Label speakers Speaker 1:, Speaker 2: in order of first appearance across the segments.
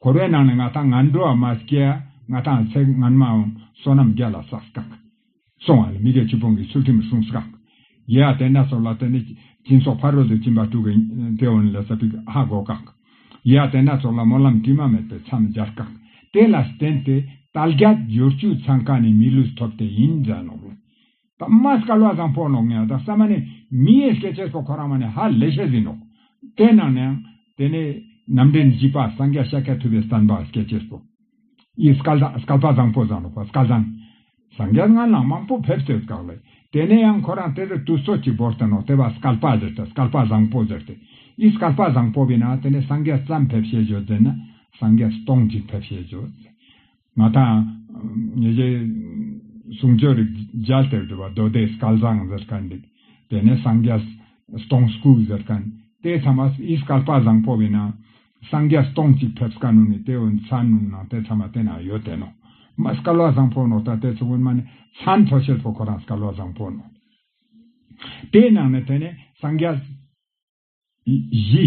Speaker 1: འཁོར་བའི་ནང་ནས་ང་དང་ང་འགྲོ་བ་མ་སྐྱེས། ང་དང་ཚེ་སྔོན་མའམ་བསོད་ནམས་བརྒྱ་ལ་སགས་སྐག། སོང་བ་ལ་མི་དགེ་བཅུ་སྤོང་གི་ཚུལ་ཁྲིམས་བསྲུང་སྐག། ཡེ་ཨ་དེ་ནས་སོགས་ལ་དེ་ནས་སྤྱིན་སོགས་ཕ་རོལ་ཏུ་ཕྱིན་པ་དྲུག་གི་མཐེ་བོ་ནས་ལས་ས་པི་ཧ་སྒོ་སྐག། ཡེ་ཨ་དེ་ནས་སོགས་ལ་སྨོན་ལམ་དྲི་མ་མེད་པས་མཚམས་སྦྱར་སྐག། དེ་ལ་བརྟེན་ཏེ་ཏཱལ་རྒྱ་སྦྱོར་བཅུ་ཚང་ཁ་ནས་མི་ལུས་ཐོབ་དེ་ཡིན་འཛད་ནོར། དམར་སྐ་ལོག་ཙམ་ཕོག་ནོག་ངས་ད་བསམ་མ་ནི་མི་ཡས་སྐད་ཆས་སོགས་ཁོ་རང་མ་ནི་ཧ་ལས་ཤ་ཟིན་ནོག། དེ་ནང་ནའང། དེ་ནས། ནམ་འདྲེན་བཞི་པ་སངས་རྒྱ་ཤ་ཁ་ཐུབ་པའི་བསམ་པ་སྐད་ཆས་སོགས། ཡིས་སྐ་ལ་སྐ་ལྤག་ཙམ་ཕོག་ཙང་ནོག་པ་སྐ་ཙང། སངས་རྒྱ་སྔ་ལངས་མང་པོ་ཕེབས་ཚོད་བཀག་ལས། དེ་ནས་ཡང་ཁོ་རང་དེ་རུ་དུས་ཚོད་ཅིག་བོར་ཏེ་ནོག་དེ་བ་སྐ་ལྤག་ཟེར་ཏེ་སྐ་ལྤག་བཟང་པོ་ཟེར་ཏེ། ཡིས་སྐ་ལྤག་བཟང་པོ་བས་ན་དེ་ནས་སངས་རྒྱ་ཙམ་ཕེབས་ཤེས་བྱོས་ཟེར་ན། སངས་རྒྱ་སྟོང་ཅིག་ཕེབས་ཤེས་བྱོས་ཟེར། མ་མཐའ། ཉེ་རྒྱལ། གསུང་ཆོས་རིག་རྒྱལ་ལྟེ་བར་གྲུབ་པ་རྡོ་རྡེ་སྐལ་བཟང་ཟེར་ག་འདུག་དེ་ནས་སངས་རྒྱས། སྟོང་སྐུ་ཟེར་ག། དེའི་མཚམས་པ་ཨིས་སྐལ་པ་བཟང་པོ་བས་ན། སངས་རྒྱས་སྟོང་གཅིག་ཕེབས་ག་ནུ་ནི་དེ་འོན་ཚ་ནུ་ནང་དེ་མཚམས་པ་དེ་ན་ཡོད་དེ་ནོ། མ་ཨིས་སྐལ་བ་བཟང་པོ་ནོ་ད་དེ་ཚོ་འོན་མ་ནི་ཚ་མཐོ་ཤེལ་ཕོ་ཁོ་རང་སྐལ་བ་བཟང་པོ་ནོ། དེའི་ནང་ནས་དེ་ནས་སངས་རྒྱས། བཞི།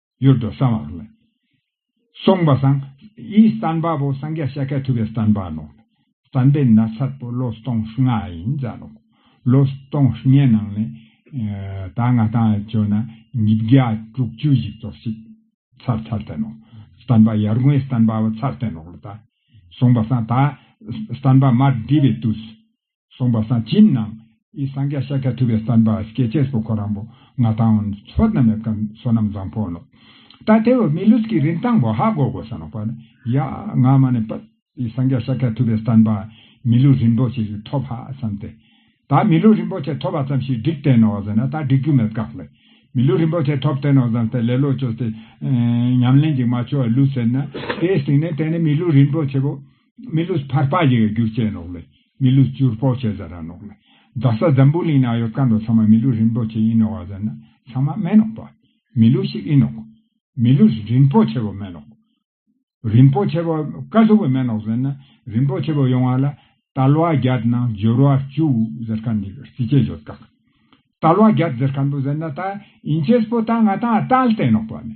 Speaker 1: གཡུར་དུ་གསང་བ་ལ་སོགས་པ་བསང། ཡིད་བརྟན་པ་པོ་སངས་རྒྱས་ཤ་ཁད་ཐུབ་པའི་བརྟན་པ་ནོ། བསམ་པའི་ན་ཚ་པོ་ལོ་སྟོང་ལྔ་ཡིན་ཙང་ནོ། ལོ་སྟོང་ལྔའི་ནང་ནས། ད་སྔ་བཏང་བའི་ཆོས་རྣམས་ཉིས་བརྒྱ་དྲུག་ཅུ་ཞིག་རྫོགས་ཤིག། ཚར་ཚར་བསྟན་ནོ། བསྟན་པ་ཡར་ངོའི་བསྟན་པའོ་ཚར་བསྟན་ནོ། བསང་བ་བསང། ད་བསྟན་པ་མར་འདྲིས་པའི་དུས་སུ། གསུངས་པ་སངས་ཅིན་ནང་ཨི་སངས་རྒྱ་ཤཱཀྱ་ཐུབ་པའི་བསྟན་པ་སྐྱེས་ཆེན་སོ་ཁོ་རང་བོ་ང་ཐང་བོ་མཚོ་སྣ་མེད་ཀ་སོ་ནམ་བཟང་ཕོ་ལོ་ད་དེ་བོ་མི་ལུས་ཀྱི་རིན་ཐང་བོ་ཧ་གོ་གོ་ས་ནོ་པ་ནི་ཡ་ང་མ་ནི་པ་ཨི་སངས་རྒྱ་ཤཱཀྱ་ཐུབ་པའི་བསྟན་པ་མི་ལུས་རིན་པོ་ཆེ་ཞིག་ཐོབ་ཧ་བསམ་སྟེ་ད་མི་ལུས་རིན་པོ་ཆེ་ཐོབ་བ་ཙམ་ཞིག་འགྲིག་བསྟན་ནོ་བཟོ་ན་ད་འགྲིག་རྒྱུ་མེད་གག་ལེ་མི་ལུས་རིན་པོ་ཆེ་ཐོབ་བསྟན་ནོ་བཟང་སྟེ་ལེ་ལོ་ཅོ་སྟེ་ཉམས་ལེན་ཅིག་མ་ཆོ་བ་ལུས་ཟེར་ན་དེའི་སྟེང་ནས་དེ་ནི་མི་ལུས་རིན་པོ་ཆེ་བོ་མི་ལུས་ཕར་སྤགས་བྱས་ཡོད་རྒྱུ་བཅས་ནོག་ལེ། མི་ལུས་བཅུར་སྤོགས་བྱས་ཟ་ར་ནོག་ལེ། རྡ་ས་འཛམ་བུའི་གླིང་ན་ཡོད་དཀར་འདོག་ཚང་མ་མི་ལུས་རིན་པོ་ཆེ་ཡིན་ནོག་བ་ཟེར་ན་ཚང་མ་སྨྲས་ནོག་པ། མི་ལུས་ཤིག་ཡིན་ནོག། མི་ལུས་རིན་པོ་ཆེ་བོ་སྨྲས་ནོག། རིན་པོ་ཆེ་བོ་དཀར་གཟུགས་བོ་སྨྲས་ནོག་ཟེར་ན་རིན་པོ་ཆེ་བོ་ཡོང་བ་ལ་དལ་བ་བརྒྱད་ནང་སྦྱོར་བ་བཅུ་ཟེར་ཁ་འདུག་རྩིས་ཆེ་བརྗོད་དཀའ། དལ་བ་བརྒྱད་ཟེར་ཁ་འདུག་ཟེར་ན་ད་ཡིན་ཆེས་པོ་ད་ང་ད་ཨ་དལ་ཏེ་ནོག་པ་ནི།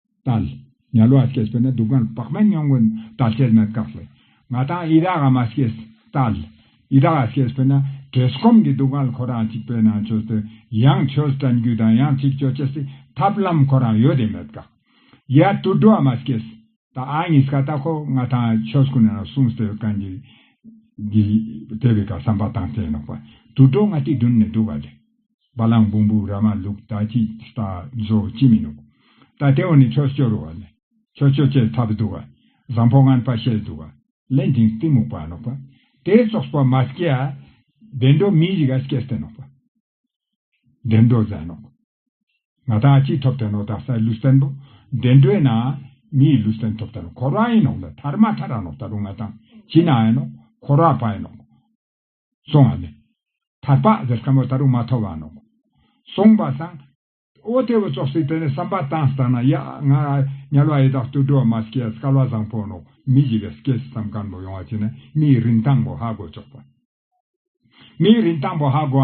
Speaker 1: ཏཱལ། ཉལ་བ་སྐྱེས་པས་ན་སྡུག་བསྔལ་བག་མེད་མྱོང་གི་ཏཱལ་སྐྱེས་མེད་དགག་ལས། ང་དང་ཡི་དྭགས་ཨ་མ་སྐྱེས། ཏཱལ། ཡི་དྭགས་སྐྱེས་པས་ན་བྲེལ་སྐོམ་གྱི་སྡུག་བསྔལ་ཁོ་རང་གཅིག་པས་ན་ཆོས་ཏེ། ཡང་ཆོས་བསྟན་རྒྱུ་དང་ཡང་ཚིག་སྤྱོད་སྐྱེ་སྲིད་ཐབས་ལམ་ཁོ་རང་ཡོད་དེ་མེད་དགག། ཡ་དུད་འགྲོ་ཨ་མ་སྐྱེས། ཏཱལ་གཉིས་ཀ་ལྟ་ཁོ་ང་དང་ཆོས་ཀུན་ན་གསུངས་ཟེར་བའི་གན་རྒྱའི། དེ་བས་ཀྱང་བསམ་པ་དང་བྲལ་ནོག་པ་དུད་འགྲོ་ང་ཏིལ་བདུན་ནས་བསྡུ་བ་ལས། བ་གླང་བུང་བུ་ར་མ་ལུག་ད་ཅི་ལྟ་བཟོ་ཅི་མི་ནུག། ད་ལྟེ་བ་ནི་ཆོས་སྐྱོ་རུ་བ་ལེ། ཆོས་སྐྱོ་ཅེས་ཐ་བི་དུ་བ། བཟང་པོ་ངན་པ་བཤད་དུ་བ། ལན་དིང་གཏི་མུག་པ་ནོག་པ། དེ་སོགས་པ་མ་སྐྱེ་ཨ། བདེ་འགྲོ་མི་རིག་ཨ་སྐྱེ་སྟེ་ནོག་པ། བདེ་འགྲོ་བཟང་ནོག། ང་ད་ཅི་ཐོབ་སྟེ་ནོག་ད་སའི་ལུས་རྟེན་པོ། བདེ་འགྲོའི་ན། མིའི་ལུས་རྟེན་ཐོབ་སྟེ་ནོག་འཁོར་བ་ཡིན་ནོག་ད་ཐར་མ་ཐར་ར་ནོག་ད་རུ་ང་ད་ཅི་ན་ཨེ་ནོག་འཁོར་བ་པ་ཡིན་ནོག། སོང་བ་ལས། ཐར་པ་འདིར་སྐམ་པོ་ལྟ་རུ་མ་ཐོགས་པ་ནོ། གསུངས་པ་དང། ཨོ་དེ་བུ་ཙོག་ཙིག་དེ་ནི་བསམ་པ་དང་བསྟན་ན་ཡ་ང་ཉལ་བ་ཡི་དྭགས་ཏུ་འགྲོ་བ་མ་སྐྱེས་ཡས་སྐལ་བ་བཟང་པོ་ནོ་མི་བཞི་པའི་སྐྱེས་སུ་བསམ་སྐམ་པོ་ཡོང་བ་བྱས་ན་མིའི་རིན་ཐང་པོ་ཧ་གོ་ཆོག་པ། མིའི་རིན་ཐང་པོ་ཧ་གོ་བ་ནི།